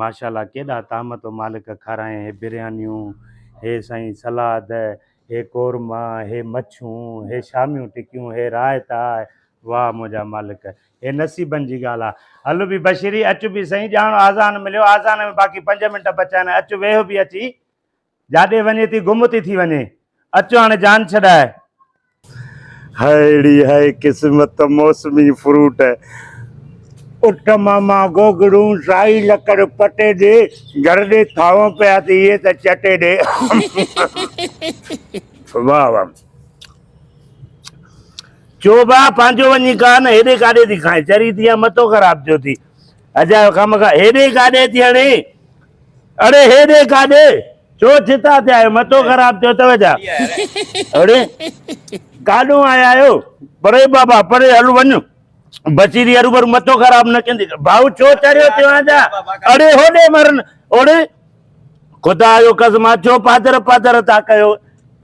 ماشاءالله ڪيڏا طعام تو مالڪ کاراين هي بريانيون هي سائين سلاد هي قورما هي مڇون هي شاميون ٽڪيون هي رائتا واهه منهنجا مالڪ هي نصيبن جي ڳالهه آ هل بي بشيري اچ بي سائين ڄاڻ آذان مليو آذان ۾ باقي پنج منٽ بچا آهن اچ ويهه بي اچي جاڏي وڃي ٿي گم ٿي ٿي وڃي. اچ هاڻي جان ڇڏاء. ههڙي هئي قسمت موسمي فروٽ. اٺ ماما گوگڙون سائي لڪڙ پٽي ڏي گهر ڏي ٿانو پيا تي اهي ته چٽي ڏي. واهه واهه. چوبا پنهنجو وڃي کاء نه هيڏي ڪاڏي ٿي کائين چري ٿي يا متو خراب ٿيو ٿي اجايو کامخا هيڏي ڪاڏي ٿي هڻي اڙي هيڏي ڪاڏي ڇو ڇتا ٿيا آهيو مٿو خراب ٿيو اٿو ڇا اڙي ڪاڏو آيا آهيو پري بابا پري هل وڃ بصيري هروڀرو مٿو خراب نه ڪندي ڀائو ڇو چريو ٿيو آهيان ڇا اڙي هوڏي مرن اڙي خدا جو قسم آ ڇو پادر پادر ٿا ڪيو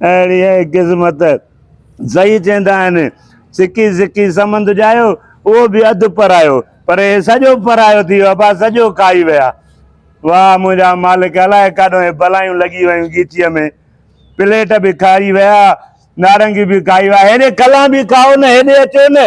اهڙيء قسمت سهي چيندا آهن، سڪي سڪي سمند ڄايو، اهو به اڌ پرايو، پر اهي سڄو پرايو ٿي ويو، ابا سڄو کائي ويا. واهه منهنجا مالڪ، الاء ڪاڏو اهي بلائيون لڳي ويون ڳيچيء ۾، پليٽ به کائي ويا، نارنگي به کائي ويا، هيڏي کلان به کائو نه، هيڏي اچو نه.